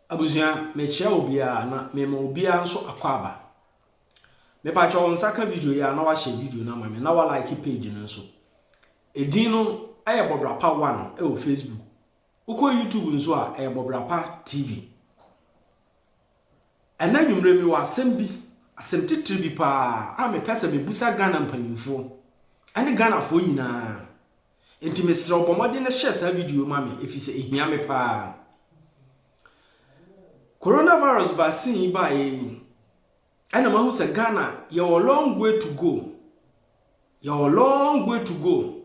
Abusua, mekyia obiara na mema obiara nso akwaaba. Mepakyɛ wo nsa ka video yi a na wahyɛ video no ama me na wa like page no nso. Edin no ɛyɛ Bɔbrapa One ɛwɔ Facebook. Wokɔ YouTube nso a ɛyɛ Bɔbrapa TV. Ɛna nwummerɛ mi wɔ asɛm bi, asɛm titiri bi paa a mepɛ sɛ mebusa Ghana mpanyinfoɔ ɛne Ghanafoɔ nyinaa. Enti mesrɛ wo bɔ mmɔden na share saa video yi ma me efisɛ ehia me paa. Coronavirus vaccine yi baeɛ yi ɛna mahu sɛ Ghana yɛwɔ long way to go. Yɛwɔ long way to go.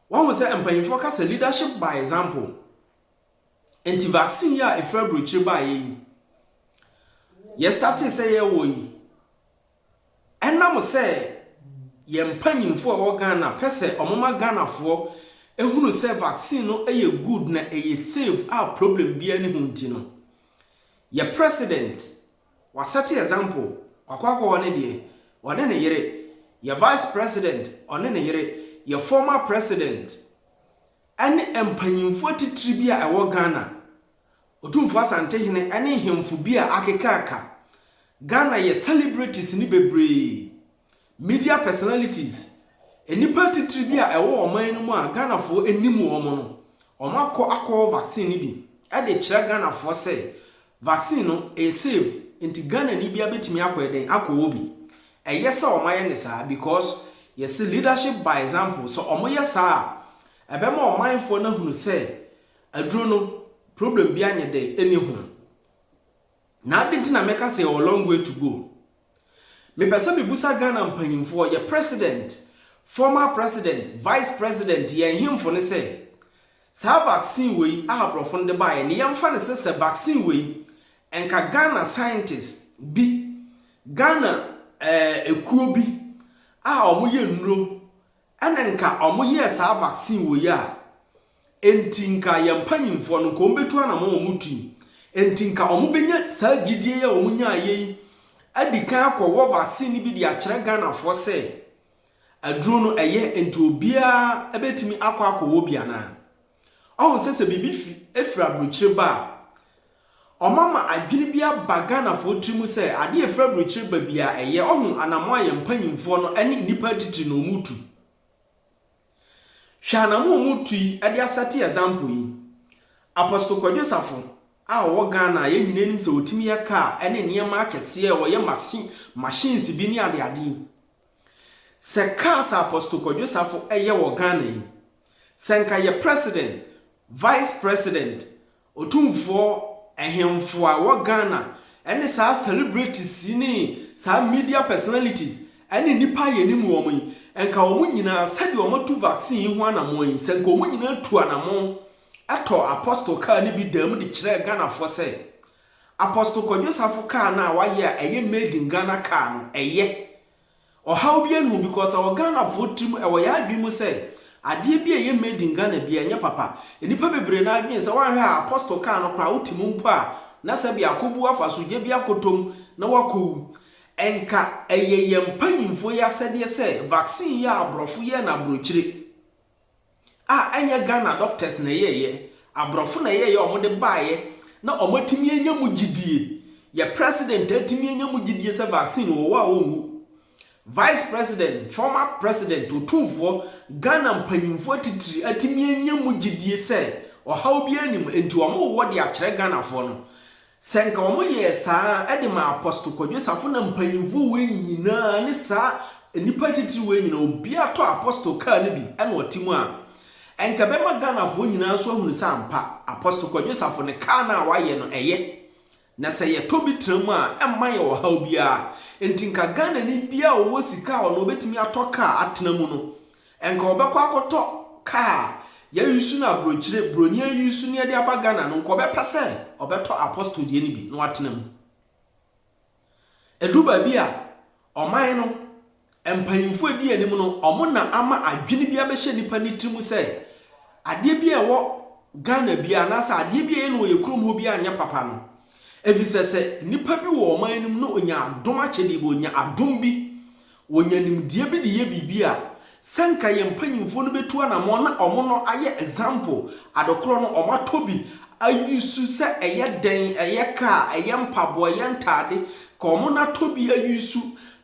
Wahu sɛ mpanyinfoɔ ka sɛ leadership by example. Enti vaccine yi a efiri aburokyire baeɛ yi yɛstartee sɛ yɛwɔ yi Ɛnam sɛ yɛn mpanyimfoɔ a ɛwɔ Ghana pɛ sɛ wɔma Ghanafoɔ hunu sɛ vaccine no yɛ good na ɛyɛ safe a problem biara nni ho nti no, yɛ President, wasɛte example, wakɔ akɔwɔ ne deɛ, ɔne ne yere, yɛ Vice President, ɔne ne yere, yɛ former President, ɛne mpanyimfoɔ atitire bi a ɛwɔ Ghana, Otumfoɔ Asante hene ɛne nhemfo bi a akeka aka. Ghana yɛ celebrities ne bebree, media personalities, nnipa atitire bi a ɛwɔ ɔman no mu a Ghanafoɔ nnim wɔn no, wɔn akɔ akɔwɔ vaccine no bi de kyerɛ Ghanafoɔ sɛ vaccine no ɛyɛ safe nti Ghanani biara bɛtumi akɔ yɛ dɛn akɔwɔ bi. Ɛyɛ sɛ wɔn ayɛ no saa because yɛse leadership by example, sɛ wɔn yɛ saa a ɛbɛma ɔmanfoɔ no ahunu sɛ Aduro no problem biaa nyɛ dɛ ɛni ho. Na aden nti na mɛka sɛ yɛwɔ long way to go? Me pɛ sɛ me busa Ghana mpanyinfoɔ, yɛ president, former president, vice president, yɛn hemfo no sɛ, saa vaccine wei a aborɔfo no de baeɛ no yɛmfa no sɛ sɛ vaccine wei nka Ghana scientist bi, Ghana eh, ekuo bi a wɔyɛ nnuro Ɛna nka ɔmo yɛɛ saa vaccine wɔ yi a ɛnti nka yɛn mpanyinfoɔ no nka ɔmo bɛtu anamɔn a ɔmo tui ɛnti nka ɔmo bɛnya saa gyidie yi a ɔmo nyaeɛ yi adi kan akɔ wɔ vaccine no bi de akyerɛ Ghanafoɔ sɛ aduro no ɛyɛ ɛnti obiara bɛtumi akɔ akɔ wɔ bi anaa. Ɔhu sɛ sɛ biribi fi firi aburokyire ba a, ɔma ma adwene bi aba Ghanafoɔ tiri mu sɛ adeɛ a ɛfiri aburokyire ba biara ɛyɛ. Ɔhu anammɔn a yɛn mpanimfoɔ no ne nnipa atitire no wɔtu. Hwɛ anammɔn a wɔtu yi de asɛte example yi. Apostle Kwadwo Safo a ɔwɔ Ghana a yɛn nyinaa nim sɛ ɔtumi yɛ car ne nneɛma akɛseɛ, ɔyɛ machine, machines bi ne adeade yi. Sɛ cars a Apostle Kwadwo Safo yɛ wɔ Ghana yi, sɛ nka yɛ President, Vice President, Otumfoɔ, Ahemfo a wɔ Ghana ne saa celebrities yi ne saa media personalities ne nnipa a yɛnim wɔn yi, nka wɔn nyinaa sɛdeɛ wɔn atu vaccine yi ho anamɔn yi, sɛ nka wɔn nyinaa tu anamɔn tɔɔ Apostle car no bi daa mu de kyerɛɛ Ghanafoɔ sɛ Apostle Kwadwo Safo car no a wayɛ a ɛyɛ made in Ghana car no ɛyɛ. Ɔhaw biaa nniho because ɛwɔ Ghanafoɔ tirim ɛwɔ yɛn adwene mu sɛ adeɛ bi a ɛyɛ made in Ghana biaa ɛnyɛ papa. Nnipa bebree no ara dwene sɛ woanhwɛ a Apostle car no koraa wote mu mpo a na sɛbia akɔbu afaso gya bi akɔtɔ mu na woakɔwu. Ɛnka ɛyɛ yɛn mpanyimfoɔ yi asɛdeɛ sɛ vaccine yi a aborɔfo yɛɛ no aborɔkyire. a ɛnyɛ Ghana doctors na ɛyɛeɛ, aborɔfo na ɛyɛeɛ a wɔde baeɛ na wɔatumi anya mu gyidie. Yɛn president atumi anya mu gyidie sɛ vaccine wɔ hɔ a wɔnwu. Vice president, former president, otumfoɔ, Ghana mpanyimfoɔ atitiri atumi anya mu gyidie sɛ ɔhaw biara nni mu, enti wɔwɔ de akyerɛ Ghanafoɔ no. Sɛ nka wɔn yɛɛ saa a ɛde ma Apostle Kwadwo Safo na mpanyimfo wei nyinaa ne saa nnipa atitiriw wei nyinaa obiara tɔ Apostle car no bi na ɔte mu a, ɛnka ɛbɛma Ghanafoɔ nyinaa nso ahunu sɛ ampa Apostle Kwadwo Safo no car no a wayɛ no ɛyɛ na sɛ yɛtɔ bi tra mu a ɛmma yɛn ɔhaw biara. Enti nka Ghanani biara a ɔwɔ sika a ɔno ɔbɛtumi atɔ car atena mu no Ɛnka ɔbɛkɔ akɔtɔ car a yɛreuse no aburokyire, buroni ause no de aba Ghana no, nka ɔbɛpɛ sɛ ɔbɛtɔ Apostle deɛ no bi na watena mu. Ɛduru baabi a, ɔman no, mpanyimfoɔ a ɛdi anim no, wɔn na ama adwene bi abɛhyɛ nipa no tiri mu sɛ, adeɛ bi a ɛwɔ Ghana biara anaasɛ adeɛ bi a ɛyɛ no wɔ yɛn kurom hɔ biara nyɛ papa no. Ɛfiri sɛ, sɛ nipa bi wɔ ɔman no mu na ɔnya adom akyɛdeɛ bi, ɔnya adom bi, Wɔnya nimdeɛ bi de yɛ biribi a, sɛ nka yɛn mpanyimfoɔ no bɛtu anamɔn na wɔn no ayɛ example, ade korɔ no wɔn atɔ bi a use sɛ ɛyɛ dan, ɛyɛ car, ɛyɛ mpaboa, ɛyɛ ntaade, ka wɔn no atɔ bi a use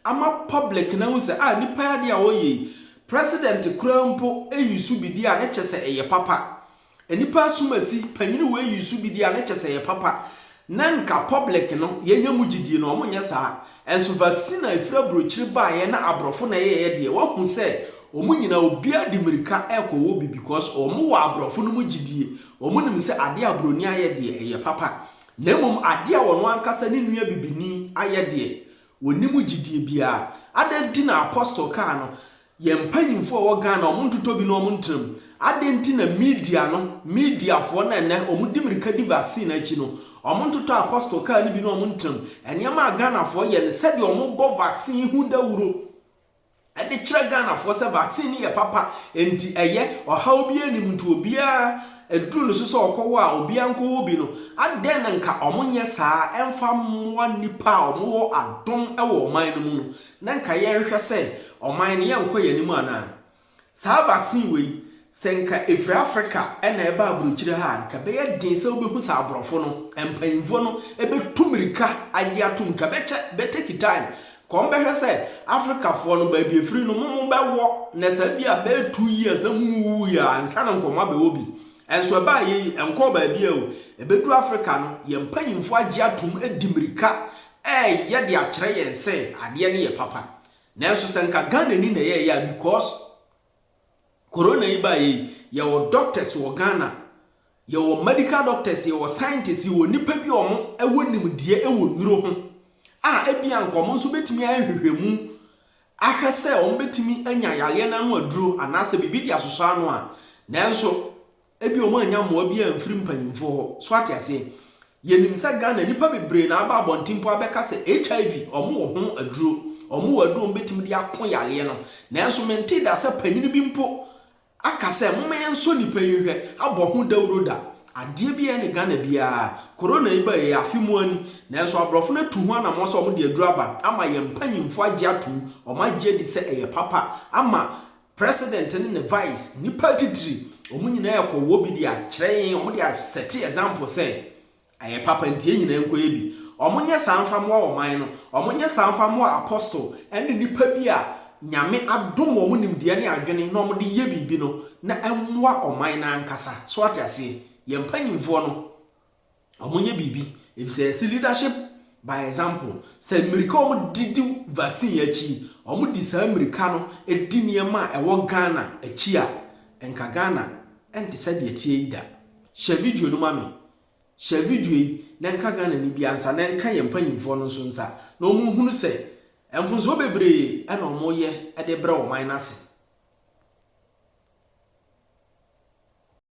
ama public no ahu sɛ ah nipa yi adeɛ a ɔyɛ yi, President koraa mpo use bi deɛ a ne kyɛ sɛ ɛyɛ papa. Nnipa asomasi panyin wei yi su bi deɛ a na kyɛ sɛ ɛyɛ papa na nka public no yɛnya mu gyidie no wɔnyɛ saa nso vaccine a ɛfiri abrokyire baeɛ na abrɔfo na ɛyɛeɛ deɛ wahu sɛ wɔn nyinaa obiara de mirika ɛkɔ wɔ bi because wɔn wɔ abrɔfo no mu gyidie wɔn nim sɛ adeɛ a broni ayɛ deɛ ɛyɛ papa na mmom adeɛ a wɔn ankasa ne nua bibini ayɛ deɛ wɔnni mu gyidie biara adɛn nti na apostle kaa no Yɛn mpanyimfo a wɔwɔ Ghana, wɔn ntotɔ bi na wɔn ntena mu. Adɛn nti na media no, mediafoɔ no a ɛnnɛ wɔdi mmirika di vaccine no akyi no, wɔn ntotɔ a Apostle kaa no bi na wɔn ntena mu? Nneɛma a Ghanafoɔ yɛ ne sɛdeɛ wɔbɔ vaccine yi ho dawuro de kyerɛ Ghanafoɔ sɛ vaccine no yɛ papa, enti ɛyɛ, ɔhaw biara nnim, nti obiara ɛduru ne so sɛ ɔkɔwɔ a, obiara nkɔwɔ bi no. Adɛn na nka wɔnyɛ saa mfa mmoa nnipa a wɔwɔ adom wɔ ɔman no mu no? Na nka yɛnhwɛ sɛ ɔman no yɛnkɔ yɛn anim anaa? Saa vaccine wei sɛ nka ɛfiri Africa na ɛba abrokyire ha a nka ɛbɛyɛ den sɛ wobɛhu sɛ abrɔfo no mpanyimfoɔ no bɛtu mirika agye atom nka bɛkyɛ bɛ take time nka wɔn bɛhwɛ sɛ Africa foɔ no baabi ɛfiri no momo bɛwɔ na saa bi a bɛyɛ two years na momo wuwu yɛ a nsa na nkɔmɔ abɛwɔ bi ɛnso ɛbaa yɛ yi ɛnkɔɔ baabi a o ɛbɛduru Africa no yɛn mpanyimfoɔ agye atom adi mirika Ɛɛyɛ de akyerɛ yɛn sɛ adeɛ no yɛ papa. Nanso sɛ nka Ghanani na yɛɛyɛ a because Corona yi baeɛ yi, yɛwɔ doctors wɔ Ghana, yɛwɔ medical doctors, yɛwɔ scientists, yɛwɔ nnipa bi a wɔwɔ nimdeɛ wɔ nnuro ho a ebia nka wɔn nso bɛtumi ayɛ nhwehwɛmu ahwɛ sɛ wɔbɛtumi anya yareɛ no ano aduro anaasɛ biribi de asosɔ ano a, nanso. Ebia ɔmo annya mmoa biaa amfiri mpanyimfoɔ hɔ. So ate aseɛ? Yɛnim sɛ Ghana nnipa bebree na aba abɔnten mpo abɛka sɛ HIV ɔmo wɔ ho aduro, ɔmo wɔ aduro a ɔmo bɛtumi de ako yareɛ no. Nanso mentee da sɛ panyini bi mpo aka sɛ momma yɛnsɔ nnipa yi nhwɛ, abɔ ho dawuro da. Adeɛ biaa ne Ghana biaa. Corona yi baeɛ yi afe mua ni, nanso aborɔfo no atu ho anammɔn sɛ ɔmo de aduro aba ama yɛn mpanyimfoɔ agye atom, ɔmo agye adi sɛ ɛyɛ papa ama President ne ne vice, nnipa atitire, wɔn nyinaa ɛkɔ wɔ bi de akyerɛ yɛn, wɔn de asɛte example sɛ ɛyɛ papa nti yɛn nyinaa nkɔyɛ bi. Wɔn nyɛ saa mfa mmoa ɔman no, wɔn nyɛ saa mfa mmoa apostle ɛne nnipa bi a Nyame adom wɔn nimdeɛ ne adwene na wɔn de yɛ biribi no na ɛmmoa ɔman no ankasa. So ate aseɛ? Yɛn mpanyinfoɔ no. wɔnyɛ biribi efisɛ yɛse leadership by example. Sɛ mmirika a wɔdedi vaccine akyi yi, wɔde saa mmirika no di nneɛma a ɛwɔ Ghana akyi a, nka Ghana nte sɛ deɛ ɛteɛ yi da. Hyɛ video no ma me. Hyɛ video yi na ɛnka Ghanani biara nsa na ɛnka yɛn mpanyimfoɔ no nso nsa na wɔnhunu sɛ mfomsoɔ bebree na wɔyɛ de brɛ wɔn man no ase.